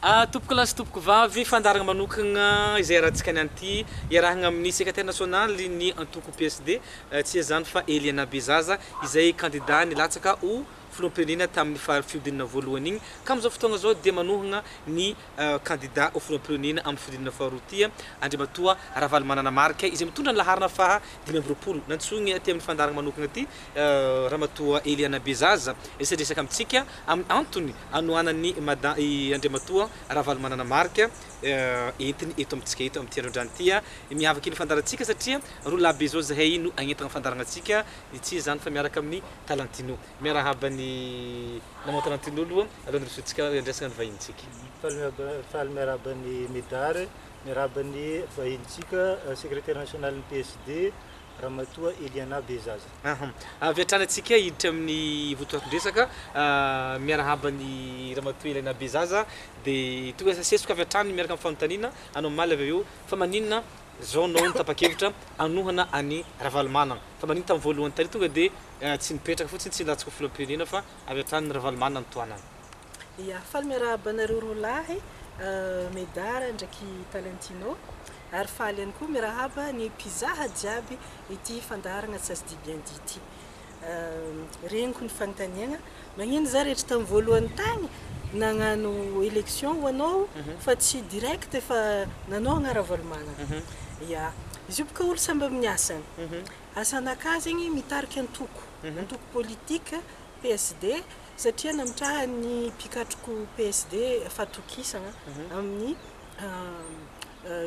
A, Tompokolahy sy Tompokovavy, fandaharagna manokagna izay iarahantsika ny an'ity, iarahagna amin'ny Secretaire National ny antoko PSD, tsy iza izany fa Eliana Bezaza, izay kandida nilatsaka ho Filoham-pirenena tamin'ny faharo fihodinana voalohany igny, ka amin'izao fotoagna izao dia manohagna ny kandida ho Filoham-pirenena amin'ny fihodinana faharoa ity, Andriamatoa Ravalomanana Marc, izay mitondra ny laharana faha dimy amby roapolo. Nantsoigny aty amin'ny fandaharagna manokagna aty Ramatoa Eliana Bezaza, hiresadresaka amintsika amin'ny antony hanohanan'i Mada i Andriamatoa Ravalomanana Marc entiny eto amintsika eto amin'ity andro androany ity. Miavaka iny fandaharantsika satria roa lahy be izao izahay no hagnentana ny fandaharana antsika. Ny tsy iza izany fa miaraka amin'i Talantino. Miarahaba an'i Maman Talantino aloha alohan'ny hirosoantsika handresaka ny vahinintsika. Faly miarahaba an'i Medard, miarahaba ny vahinintsika, Secretaire National-n'ny PSD. Ramatoa Eliana Bezaza. Ahm. Avy hatrany antsika hiditra amin'ny votoatin-dresaka. Miarahaba an'i Ramatoa Eliana Bezaza. Dia tonga sesosesoko avy hatrany miaraka amin'ny fanontaniana anao omaly avy eo fa maninona izao anao no tapa-kevitra hanohana an'i Ravalomanana? Fa maninona tamin'ny voalohany tary tonga dia tsy nipetraka fotsiny tsy nilatsaka ho filoham-pirenena fa avy hatrany Ravalomanana no tohanana? Ya, faly miarahaba anareo roa lahy, Medard ndraiky Talentino. Ary faly ihany koa miarahaba ny mpizaha jiaby ity fandaharana Ca se dit bien dit ity. Reniko ny fanontaniagna, magnino za rehetra tam voalohany tagny nagnano election ho anao fa tsy direct fa nanohagna Ravalomanana. Ya, izy io boka olo samby amin'ny asany. Asan'aka zegny mitarika antoko, antoko politique PSD. Satria namitrahan'ny mpikatroko PSD fahatokisana amin'ny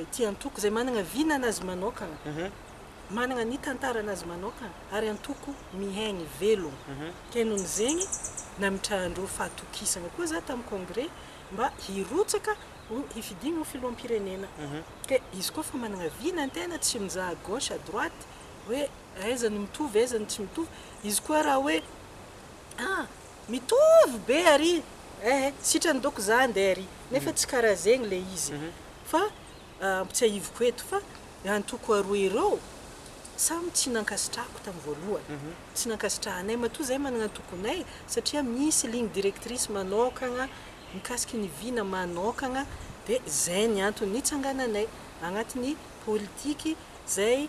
ity antoko izay manana vina anazy manokana, manana ny tantara anazy manokana ary antoko mihaino velona. Kay noho ny zegny namitrahan-dreo fahatokisana koa za tamin'ny congrès mba hirotsaka ho hifidiana ho filoham-pirenena. Kay izy koa fa manana vina ny tena tsy mizaha à gauche à droite hoe aiza no mitovy aiza no tsy mitovy. Izy koa raha hoe Ah! Mitovy be ary eh! Sitrany doko za ande ary nefa tsy karaha zegny le izy fa ampitsiahiviko eto fa ny antoko aroa ireo samy tsy nankasitrahako tam voalohany tsy nankasitrahanay matoa zahay managna antokonay satria misy ligne directrice manokagna mikasiky ny vina manokagna de zay ny antony nitsangananay agnatiny politiky zay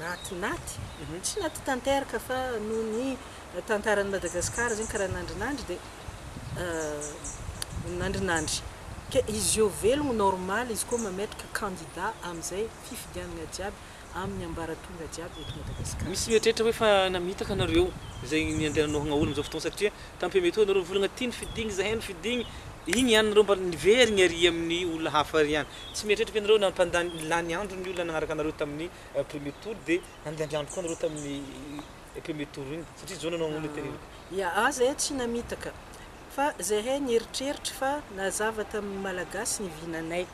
Naty naty, tsy naty tanteraka fa noho ny tantaran'i Madagasikara zegny karaha nandrinandry dia nandrinandry. Ke izy eo velogno normal izy koa mametraka candidat amizay fifidianagna jiaby aminy ambaratonga jiaby eto Madagasikara. Misy mieritreritra hoe fa namitaka nareo zay niandehananao hagnaolo amizao fotoagna satria tampia mety hoe nareo nivolagna ty nofidigny zahay nofidigny, igny iany nareo mba niverigny ary aminy olona hafa ary iany. Tsy mieritreritra ianareo nampandany lany andro ny olona nagnaraka anareo tamin'ny premier tour de handany andro koa anareo tamin'ny premier tour iny satria zao nanao an'olona tena iraka. Ya ah zay tsy namitaka fa zahay nieritreritra fa nazava tamin'ny malagasy ny vinanay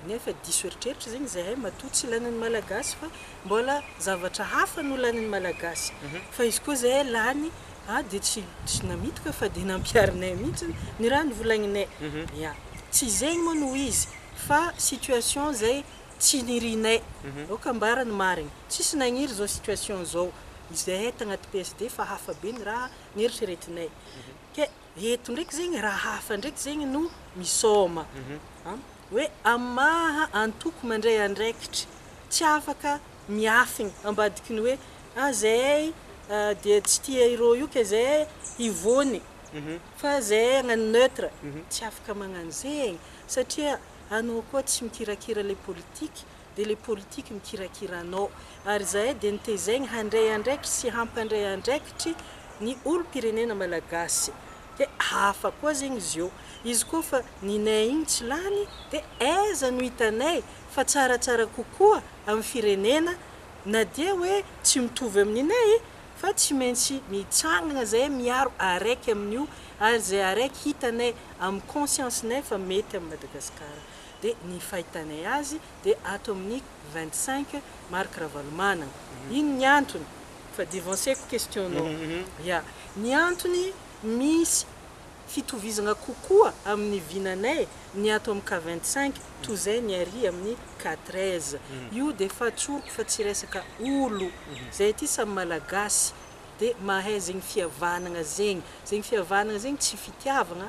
nefa diso eritreritra zegny zahay matoa tsy lanin'ny malagasy fa Mbola zavatra hafa no lanin'ny Malagasy fa izy koa zay lany ah dia tsy tsy namitoka fa dia nampiharinay mihitsy ny raha novolagninay ya tsy zegny moa no izy fa situation zay tsy nirianay aoka ambara ny marigny tsisy nagniry zao situation zao izahay tagnaty PSD fa hafa be ny raha neritreretinay ke eto ndraiky zegny raha hafa ndraiky zegny no misaoma an! hoe amin'ny maha antoko mandray andraikitra tsy afaka miafigny ambadiky ny hoe ah zahay dia tsy tia ireo io ka zahay hivony fa zahay hagnano neutre, tsy afaka magnano zegny satria anao koa tsy mikirakira le politique dia ilay politique mikirakira anao ary izahay dia notezaigny handray andraikitry sy hampandray andraikitry ny olom-pirenena malagasy dia hafa koa zegny izy eo izy koa fa ny nay igny tsy lany dia aiza no hitanay fa tsaratsara kokoa amin'ny firenena na dia hoe tsy mitovy amin'ny nay fa tsy maintsy mitsangana zahay miaro araiky amin'io ary izay araiky hitanay amin'ny conscience nay fa mety amin'i Madagasikara. dia ny fahitanay azy dia ato amin'ny vingt cinq Marc Ravalomanana. Iny ny antony. Fa devanceko question-nao. Ya. Ny antony misy fitovizagna kokoa amin'ny vinanay ny ato amin'ny cas vingt cinq toy izay ny ary amin'ny cas treize. Io dia fatsoriko fa tsy resaka olo. Zahay aty samy Malagasy dia mahay zegny fihavanagna zegny. Zegny fihavanagna zegny tsy fitiavagna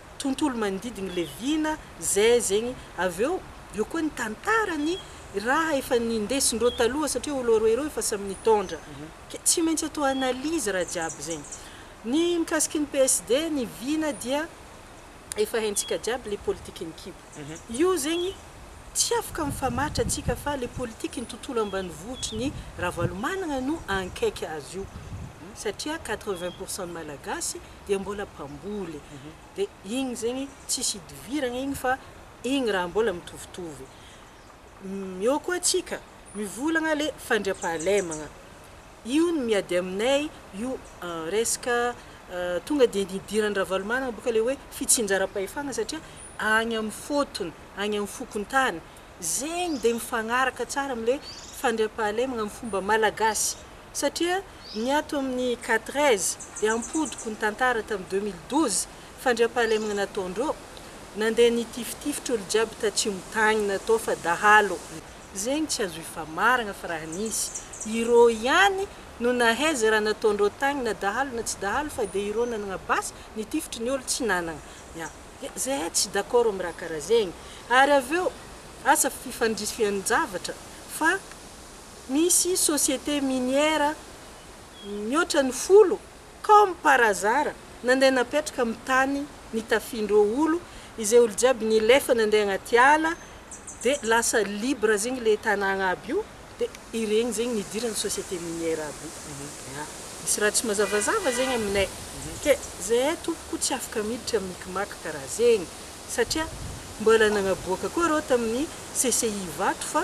tontolo manodidiny le vina zay zegny avy eo eo koa ny tantara ny raha efa ny ndesindreo taloha satria olo roe reo efa samy nitondra ke tsy maintsy atao analyse raha jiaby zegny ny mikasiky ny PSD ny vina dia efa haintsika jiaby le politiky ny kibo io zegny tsy afaka mifamaritra tsika fa le politiky ny tontolo ambanivohitry ny ravalomanagna no ankaiky azy io satria quatre vingt pourcent ny malagasy dia mbola mpamboly dia igny zegny tsisy hidiviragna igny fa igny raha mbola mitovitovy eo koa tsika mivolagna le fandriampahalemagna io ny miady aminay io resaka tonga de nidiran-dRavalomanana boka le hoe fitsinjaram-pahefagna satria agny am fotony agny am fokontany zegny de mifagnaraka tsara amle fandriampahalemagna am fomba malagasy Satria ny ato amin'ny Catres dia ampodiko ny tantara tamin'ny deux mille douze, fandriampahalemagna nataondreo, nandeha nitifitifitra olo jiaby tatsimo tagny natao fa dahalo, zegny tsy azo ifamaragna fa raha nisy, ireo ihany no nahay ze raha nataondreo tagny na dahalo na tsy dahalo fa dia ireo nanagna basy nitifitry ny olo tsy nanagna, ya, dia zahay tsy d'accord amin'ny raha karaha zegny, ary avy eo asa fifandrisihan-javatra fa. Misy société minière mihoatra ny folo comme par hasard nandeha napetraka amin'ny tany nitafian'ireo olo izay olo jiaby nilefa nandeha agnaty ala dia lasa libre zegny le tanàgna aby io dia iregny zegny nidiran'ny société minière aby io ya misy raha tsy mazavazava zegny aminay ke zahay tompoko tsy afaka miditra micmac karaha zegny satria mbola nagnaboaka koa reo tamin'ny CCI Ivato fa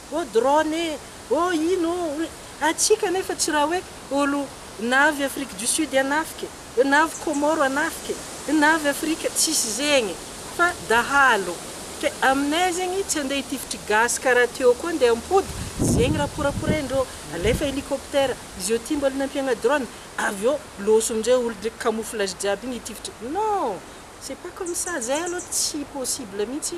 Oh drone e! Oh ino oh ry. Antsika anefa tsy raha hoe olo navy Afrique du Sud hanafika e! Navy Comore hanafika e! Navy Afrika, tsisy zegny e! Fa dahalo. Ke aminay zegny tsy andeha hitifitry gasy karaha teo koa ndeha hampody, zegny raha poraporain-dreo. Alefa hélicoptère, izy eo ty mbola nampiagna drone, avy eo loso amin'izay olo ndreky camouflage jiaby igny hitifitry. Non! C'est pas comme ça, zay aloha tsy possible mihitsy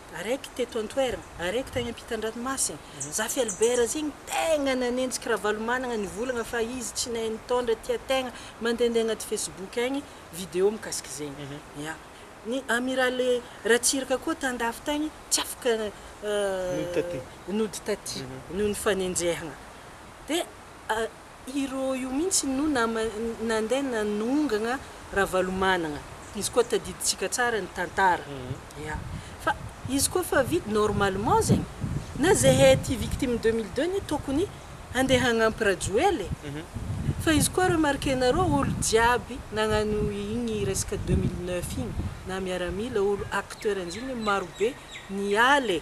Araiky teto an-toerana, araiky tany am-pitan-dranomasina. Zafy Albert zay no tegna nanenjika Ravalomanagna nivolagna fa izy tsy nahay nitondra, tia tegna, mandehandeha agnaty Facebook agny video mikasika zegny. Ya. Ny Amiraly Ratsiraka koa tan-dafy tagny tsy afaka nody taty noho ny fanenjehagna. Dia. Iro io mihitsy no nama nandeha nanongana Ravalomanana. Izy koa tadidintsika tsara ny tantara. Ya. Fa izy koa fa vide normalement zegny. Na zahay ty victime deux mille deux anie tokony handeha hagnampy Rajoel e. Fa izy koa remarquer-nareo olo jiaby nagnano igny resaka deux mille neuf igny na miaramila olo acteur anjigny igny maro be niala e.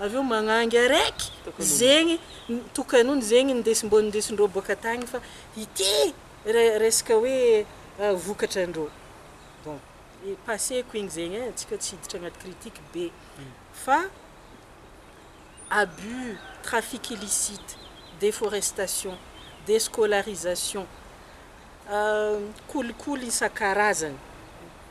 Avy eo magnangy araiky zegny tokanony zegny nindesin mbô nindesindreo boaka tagny fa ity resaka hoe vokatra ndreo bon passé ko igny zegny e tsika tsy hiditra agnaty critique be fa abus, trafic illicite, deforestation, descolarisation, kolikoly isan-karazany.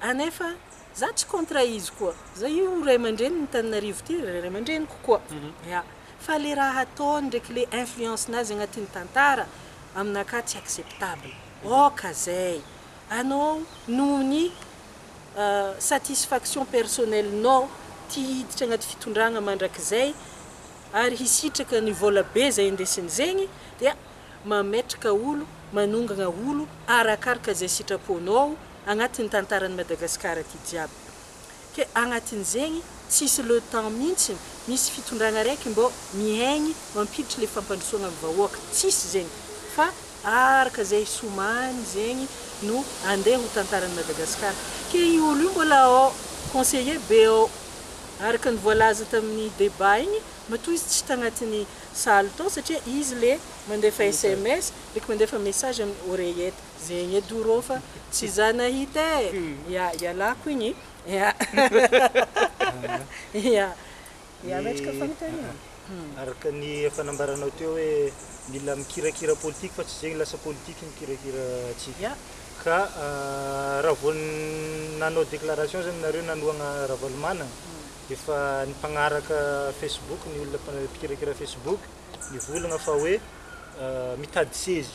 Ah nefa za tsy contre izy koa za io ray aman-dreny ny Tananarivo ty ray aman-dreniko koa ya fa le raha ataony ndreky le influence nazy agnatin'ny tantara aminakahy tsy acceptable ok zay anao noho ny satisfaction personnel nao ty hiditra agnaty fitondragna mandrakizay ary hisitraka ny vola be zay indesiny zegny dia mametraka olo manongagna olo arakaraka zay sitraponao Agnatin'ny tantaran'i Madagascar aty jiaby ke agnatin'izegny tsisy le temps mintsiny misy fitondragna araiky mbô mihaigny mampiditry le fampandrosoagna am vahoaka tsisy zegny fa araka zay somany zegny no andeha ho tantaran'i Madagascar ke io olo io mbola ao conseiller be ao araka ny voalaza tamin'ny debat igny matoa izy tsy tagnatin'ny saly tao satria izy le mandefa sms ndreky mandefa message amin'ny oreillette. Zegny edo rô fa tsy za nahita e! Ia, ialako igny ia. Ia, ia metraka fanontaniana. Araka ny efa nambaranao teo hoe mila mikirakira politique fa tsy zegny lasa politique mikirakira antsika. Ia. Ka raha vao nanao déclaration zany nareo nanohagna Ravalomanana dia efa ny mpagnaraka Facebook ny olona mpikirakira Facebook nivolagna fa hoe mitady sezy.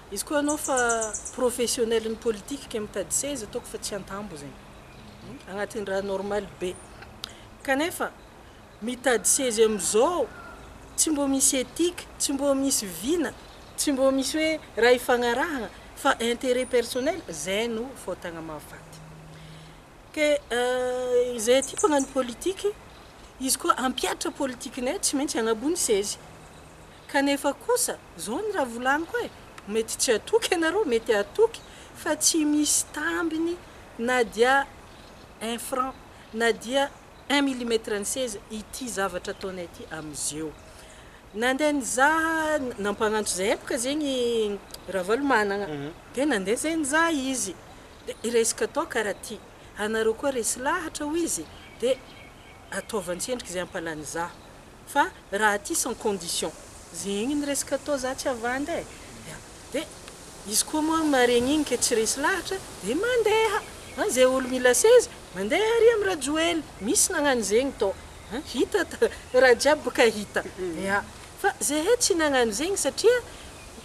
Izy koa anao fa professionnel ny politique ke mitady seza ataoko fa tsy antambo zegny agnatin'ny raha normal be kanefa mitady seza amizao tsy mbô misy ethique tsy mbô misy vina tsy mbô misy hoe raha ifagnarahagna fa interet personnel zay no fôtagna mahafaty ke izay aty mpagnano politique izy koa ampiatra politikenay tsy maintsy agnabony sezy kanefa kosa Zao ny raha volaniko e, mety tsy hatoky ianareo, mety hatoky fa tsy misy tambiny na dia un franc, na dia un millimètre ny seza ity zavatra ataonay ity amzeo. Nandeha nizaha, nampagnantso zay epoka zegny Ravalomanagna, de nandeha zay nizaha izy, de resaka atao karaha ty, anareo koa resy lahatra hoy izy, de ataovy antsendriky zay ampalanizaha. Fa raha aty sans condition. Zegny ny resaka atao za tsy havanda e! ya! de izy koa moa maregny igny ke tsy resy lahatra de mandeha! an! ze olo mila seza mandeha ary am rajoel! misy nagnano zegny to an! hita raha jiaby boka hita ya! fa zehe tsy nagnano zegny satria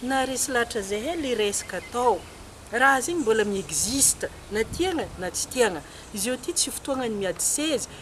naharesy lahatra zehe le resaka atao! raha zegny mbola mi existe na tiagna na tsy tiagna! izeo ty tsy fotoagna ny miady seza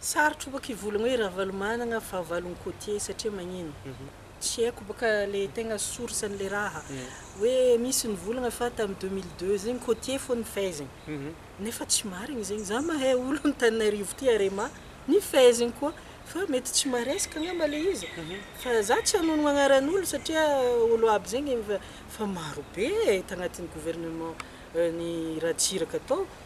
Sarotra baka hivolagna hoe Ravalomanagna fahavalon'i Côtier satria magnino? Tsy haiko baka le tegna source an'le raha. Hoe misy nivolagna fa tamin'ny deux mille deux zegny Côtier fô nifehezigny. Nefa tsy marigny zegny. Za mahay olo Antananarivo ty Arema nifehezigny koa. Fa mety tsy maresaka angamba le izy. Fa za tsy hanonogno agnaran'olo satria olo aby zegny efa marobe e tagnatin'ny gouvernement n'i Ratsiraka tao.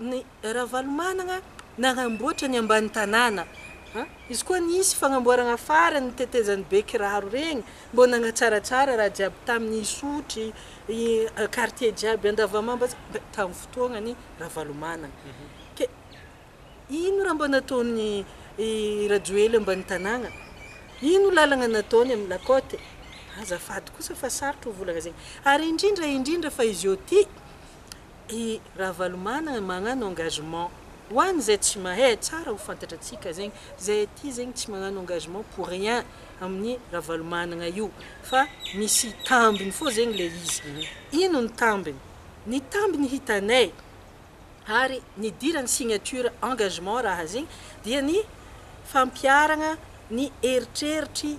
Ny Ravalomanana nanamboatra ny ambany tanàna an! Izy koa nisy fagnamboaragna farany ny tetezan'ny bekiraro regny mbô nagnatsaratsara raha jiaby tamin'ny Isotry, i quartier jiaby Andavamamba jiaby tamin'ny fotoagnan'i Ravalomanana. Ke ino raha mbô nataon'i i Rajoely ambany tanàna? Ino lalagna nataony amin'ny la côte? Azafady kosa fa sarotra hovolagna zegny. Ary indrindra indrindra fa izy ôty I Ravalomanana magnano engagement ho an zay tsy mahay, tsara ho fantatra tsika zegny, zay aty zegny tsy magnano engagement pour rien aminy Ravalomanana io fa misy tambiny fô zegny le izy, ino ny tambiny? ny tambiny hitanay ary nidirany signature engagement raha zegny dia ny fampiaragna ny eritreritry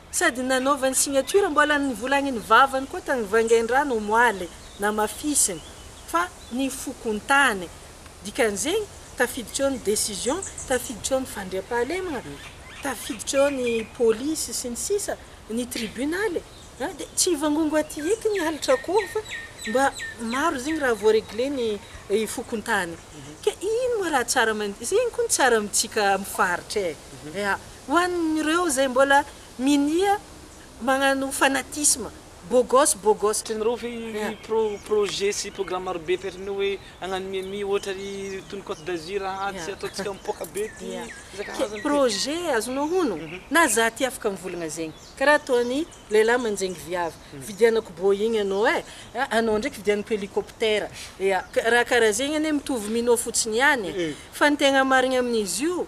Sady nanaovany signature mbola nivolagniny vavany koa tany Vangaindrano omoaly namafisiny fa nifokontany. Dikan'izegny tafiditra eo ny décision, tafiditra eo ny fandriampahalemagna, tafiditra eo ny polisy sy ny sisa, ny tribunaly a! Dia tsy hivangongo aty eky ny halatra akoho fa mba maro zegny raha vao regler ny fokontany. Ke ino moa raha tsara aman zegny koa ny tsara amintsika amin'ny faritra e! Ya! Ho an'ireo izay mbola minia magnano fanatisme, bogos, bogos. Tsy nirofy ny pro projet sy programme marobe taitrin'io hoe hagnano miami ohatra ry tony cote d'azur aa tsy ataontsika mipoaka be ty isan-karazany ty. Projet azonao hono na za ty afaka mivolagna zegny karaha ataon'ny lehilahy manjenggy viavy vidianako boeing anao e a anao ndraiky vidianako helicoptera ea raha karaha zegny anie mitovy minoa fotsiny ihany e fa ny tegna marigny amin'izy io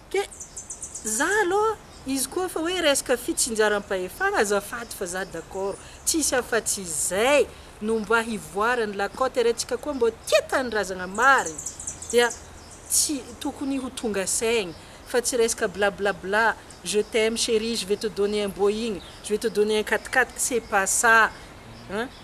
Ke, za aloha, izy koa efa hoe resaka fitsinjaram-pahefana, azafady fa za d'accord, tsisy afatsy izay no mba hivoaran'ny la cote retsika koa mbô tia tanindrazagna marigny dia tsy tokony ho tonga saigny fa tsy resaka bla bla bla, je t'aime chérie, je vais te donner un boeing, je vais te donner un quat quat, c'est pas ça hein.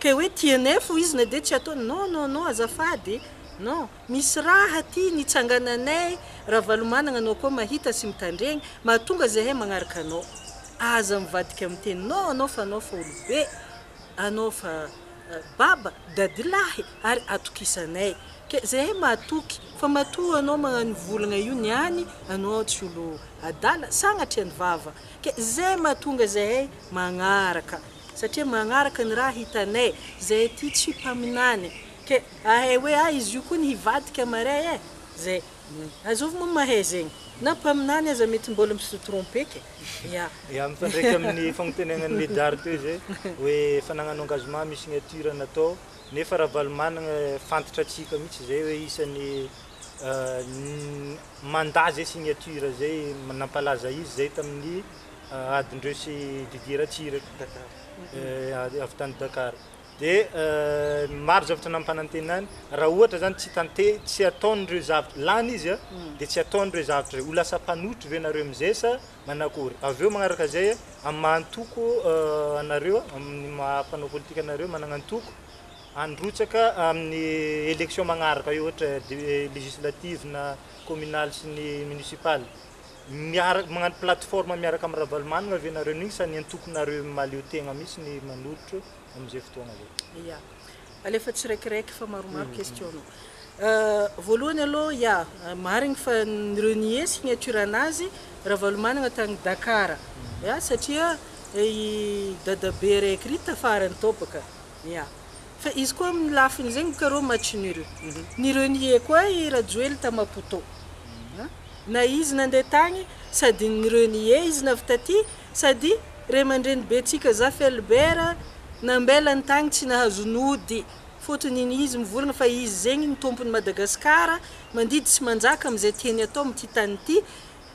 Kay hoe tnf hoy izy na dia tsy ataony non non non azafady e non misy raha aty nitsangananay Ravalomanagna anao koa mahita sy mitandregny mahatonga zahay magnaraka anao aza mivadika miteny non anao fa anao fa olobe anao fa baba dadilahy ary atokisanay kay zahay mahatoky fa matoa anao magnano volagna io niany anao tsy olo adala sagnatria ny vava kay zay mahatonga zahay magnaraka satria magnaraka ny raha hitanay zay aty tsy mpaminany ke ahay hoe ah izy io koa ny hivadika maray eh zay azovy moa mahay zegny na mpaminany aza mety mbol mse tromper ke ya. Ya, mifandraika amin'ny fagnonteneagnan'i Medard teo izay hoe efa nagnano engagement mi signature natao nefa Ravalomanagna fantatra antsika mihitsy izay hoe isan'ny mandat zay signature zay nampalaza izy zay tamin'ny adin'ireo sy Didier Ratsiraka avy avy tany Dakar dia maro zavatra nampanantenany raha ohatra zany tsy tante tsy ataon'ireo zavatra lany izy a dia tsy ataon'ireo zavatra ireo ho lasa mpanotry ve nareo amin'izay sa manakory avy eo manaraka izay a amin'ny maha antoko anareo a amin'ny maha mpanao politika anareo manana antoko handrotsaka amin'ny élection manaraka eo ohatra législative na communale sy ny municipale miaraka magnano plateforme miaraka am Ravalomanana ve nareo neny sa ny antokonareo maleo tegna mitsy ny manolotra amzay fotoagna zay? Ya, alefa tsiraikiraiky fa maromaro question nao. Voalohany aloha ya, marigny fa nireo nié signature nazy Ravalomanana tagny Dakar ya satria i dadabe raiky ry tafarany tao baka Ia. Fa izy koa amin'ny lafiny izay ngo karô match nul. Ny renier koa i Rajoely ta Maputo. Na izy nandeha tagny sady ny renier izy navy taty sady ray aman-dreny be tsika Zafy Albert nambelany tagny tsy nahazo nody fôtony iny izy mivorogna fa izy zegny ny tômpony Madagascar mandidy sy manjaka amin'izay tiany atao amin'ity tany ity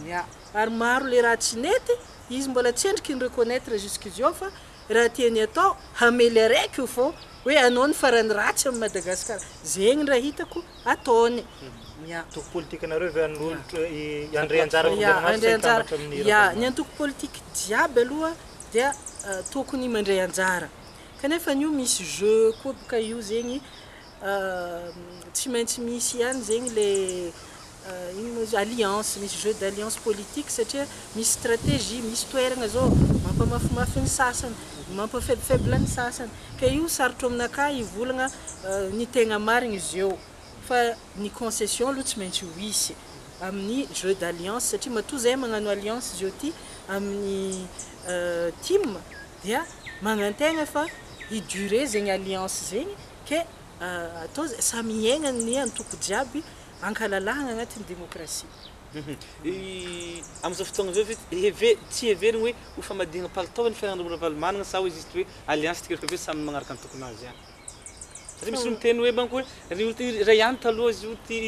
Mia. Ary maro le raha tsy nety, izy mbola tsy endriky ny reconnaitre jusqu'iziao fa raha tiany atao hamely araiky io fô hoe anao ny farany ratsy am Madagascar. Zegny raha hitako ataony. Mia. Antoko politikanareo ve anolotra i André Anjara Andrianamaso André Anjara, hitambatra amin'ny Ia. Ny Ravalomanana? antoko politique jiaby aloha dia tokony mandray anjara. Kanefa anio misy jeu koa boka io zegny Tsy maintsy misy ihany zegny le ino moa izy io alliance, misy jeu d'alliance politique satria misy stratégie, misy toeragna zao mampamafimafy ny sasany, mampa faible faible ny sasany, ka io sarotro aminakà hivolagna ny tegna marigny izy eo, fa ny concession aloha tsy maintsy ho hisy amin'ny jeu d'alliance satria matoa zahay magnano alliance zao ty amin'ny tim dia magnantegna fa hi-durer zegny alliance zegny Ke atao zay samy hiaigna ny antoko jiaby ankalalahagna agnatin'ny demokrasia. Amin'izao fotoagna izao ve tsy heverigny hoe ho famadihagna palitao ny fiaraha-monina Ravalomanana sa hoe juste hoe alliance tsikelikely hoe samy magnaraka antokon'azy ihany? Satria misy olo miteny hoe manko hoe ry olo ty iray ihany taloha izy io ty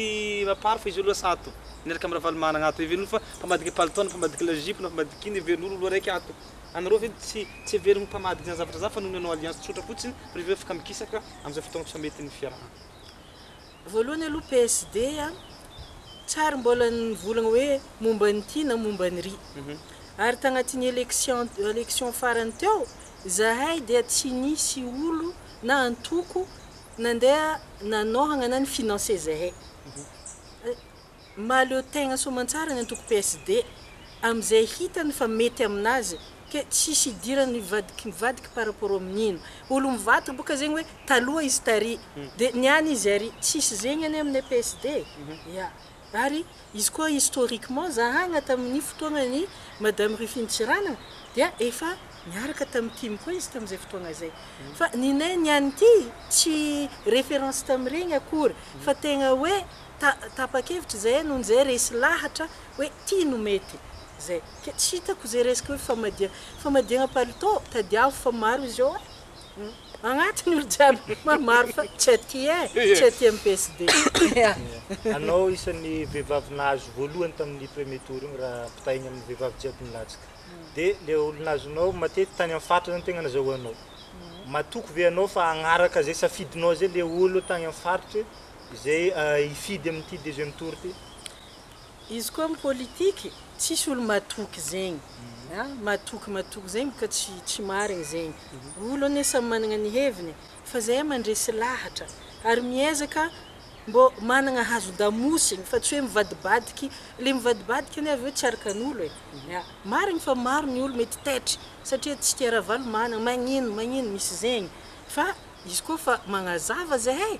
Mapar fa izy io aloha lasa ato miaraka amin'i Ravalomanana ato, heverin'olo fa mpamadika palitao na mpamadika lajipo na mpamadika ino heverin'olo olo araiky ato. anareo ve tsy tsy heveriny ho mpamadika izany zavatra izany fa noho ny hanao alliance tsotra fotsiny ry ireo afaka mikisaka amin'izay fotoana tsy mety ny fiarahana. Voalohany aloha PSD a, tsary mbola nivolagna hoe momba ny ty na momba ny ry. Ary tagnatin'ny election election farany teo, zahay dia tsy nisy olo na antoko nandeha nanohagna na ni-financer zahay. Mahaleo tegna soamantsara ny antoko PSD amzay hitany fa mety aminazy ke tsisy hidirany mivadiky mivadiky par rapport aminino olo mivadika boka zegny hoe taloha izy tary de niany izy ary tsisy zegny anie aminay PSD e ya ary izy koa historiquement zahagna taminy fotoagnany madame Rufine Tsiranana dia efa niaraka tamy tim koa izy tamzay fotoagna zay fa ninay niany ty tsy reference tamiregny akory fa tegna hoe Ta, tapa-kevitra izay noho izay resy lahatra hoe ty no mety. Zay. Ke tsy hitako izay resaka hoe famadiha, famadiagna palitao, tadiavo fa maro izy eo eh! Agnatiny olo jiaby ma maro fa tsy aty eh! Tsy aty am PSD eh! Anao isan'ny vehivavy nahazo voalohany tamin'ny premier tour igny raha ampitahaigny amin'ny vehivavy jiaby nilatsaka. De le olo nazonao matety tany am faritra zany tegna nazahoanao. Matoky ve anao fa agnaraka zay safidinao zay le olo tagny am faritry? Izay hifidy amin'ity deuxième tour ity. Izy koa am politique tsisy olo matoky zegny a, matoky matoky zegny boka tsy tsy marigny zegny, olo anie samy managna ny heviny fa zahay mandresy lahatra ary miezaka mbô managna hazo damosigny fa tsy hoe mivadibadiky, le mivadibadiky anie avy eo tsy arakan'olo e, ya marigny fa maro ny olo mety taitry satria tsy tia Ravalomanana magnino magnino misy zegny fa izy koa fa magnazava zahay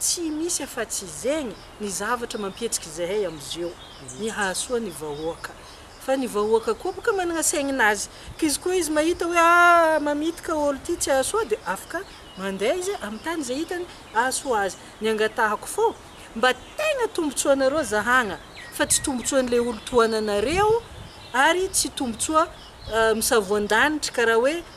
Tsy misy afatsy izegny ny zavatra mampietsiky zahay amzeo ny hahasoa ny vahoaka fa ny vahoaka koa boka managna saigninazy ka izy koa izy mahita hoe ah mamity ka olo ty tsy ahasoa de afaka mandeha izy amy tany ze hitany ahasoa azy ny angatahako fô mba tegna tombotsoanareo zahagna fa tsy tombotsoanle olo tohananareo ary tsy tombotsoa misavoandanitry karaha hoe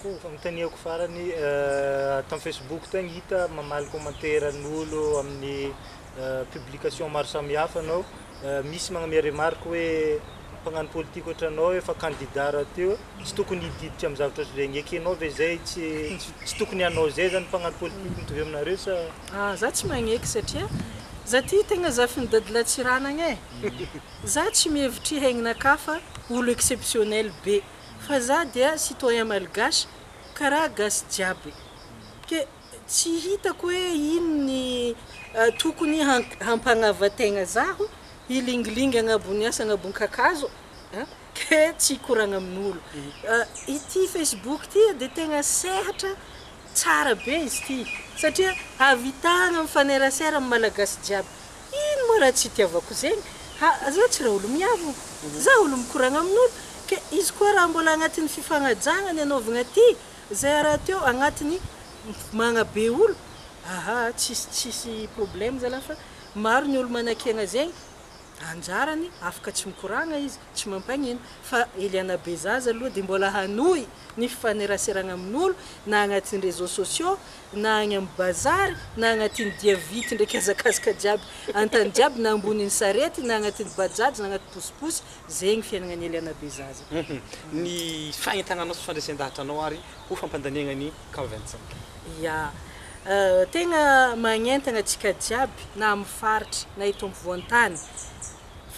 Ko fanontaniako farany tam facebook tagny hita mamaly commentaire n'olo amin'ny publication maro samihafa anao misy magname remarque hoe mpagnano politique otranao efa candidat raha teo tsy tokony hididitra am zavatra otran'izegny ekenao ve zay tsy tsy tokony hanao zay zany mpagnano politique mitovy aminareo sa Ah za tsy magneky satria za ty tegna zafin'ny dadilahy Tsiranagna e! Za tsy mihevitry haignina ka fa olo exceptionnel be. fa za dia citoyen malgache karaha gasy jiaby ke tsy hitako hoe ino ny tokony hampagnavan tegna zaho hilingilingy agnabony asa agnabony kakazo an ke tsy hikoragna amin'olo ity facebook ty dia tegna sehatra tsara be izy ty satria havitagna mifanerasera amin'ny malagasy jiaby Ino moa raha tsy itiavako zegny? Ha, za tsy raolomiavo, za olo mikoragna amin'olo, ke izy koa raha mbola agnatin'ny fifagnajagna ny anaovagna ty zay a rahateo agnatin'ny mpmagna be olo, aha, tsisy tsisy problème zalah fa maro ny olo manakiagna zegny, anjarany afaka tsy mikoragna izy, tsy mampagnino, fa Eliana Bezaza aloha de mbola hanohy ny fifaneraseragna amin'olo na agnatin'ny réseaux sociaux na agny am bazary na agnatin dia vity ndraiky hazakazaka jiaby antany jiaby na ambonin sarety na agnatin bajaj na agnaty posiposy zegny fiainagna ny eliana be zaza. Humm ny fahentananao sy fandresendahatranao ary ho fampandaniagna ny cas Vincent. Ya. Tegna magnentagna antsika jiaby na am faritra na eto ampovoantany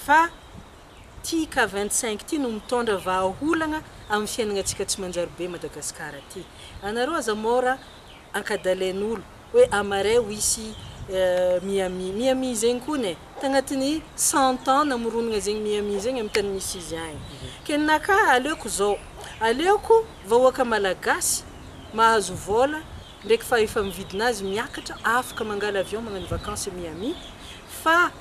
fa Ty cas vingt cinq ty no mitondra vahaolagna amin'ny fiainagnatsika tsy manjary be Madagascar ty. Anareo aza mora ankadalain'olo hoe Amaray hoisy Miami. Miami zegny kony e, tagnatin'ny cent ans namoronagna zegny Miami zegny amin'ny tany misy izy agny. Ke ninakà aleoko zao, aleoko vahoaka Malagasy mahazo vôla ndraiky fahefa-mividin'azy miakatra afaka mangala avion magnano vacances Miami fa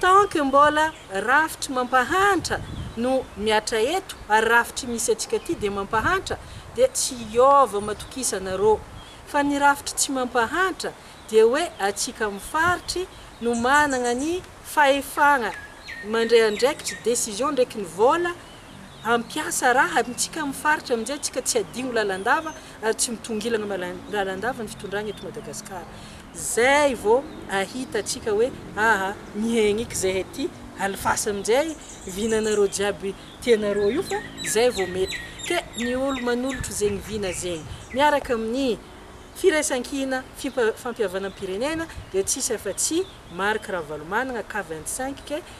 Tant que mbola rafitry mampahantra no miatra eto ary rafitry misy antsika aty dia mampahantra dia tsy hiova matokisana rô. Fa ny rafitry tsy mampahantra dia hoe atsika amin'ny faritry no managna ny fahefagna mandray andraikitry, décision, ndraiky ny vôla, hampiasa raha amintsika amin'ny faritra amin'izay antsika tsy hadigno lalandava ary tsy mitongilana lalandava ny fitondrana eto Madagasikara. Zay vao ahita antsika hoe aha mihaigna eky zay aty alfasy amin'izay vinanareo jiaby tianareo io fa zay vao mety. Ke ny olo manolotro zegny vina zegny miaraka amin'ny firaisankina, fimpa fampihavanam-pirenena dia tsisy afa-tsy Marc Ravalomanagna, Cave vingt cinq, ke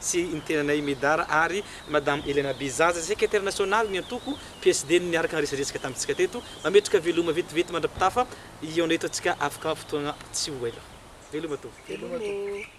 sy ny tenanay Medard ary Madame Elena Bizaza, Sekretera Nasionaly ny antoko PSD no niaraka niresadresaka tamintsika teto. Mametraka veloma vetivety mandra-pitafa hihaona eto antsika afaka fotoana tsy ho ela. Veloma Tompoko. Veloma Tompoko.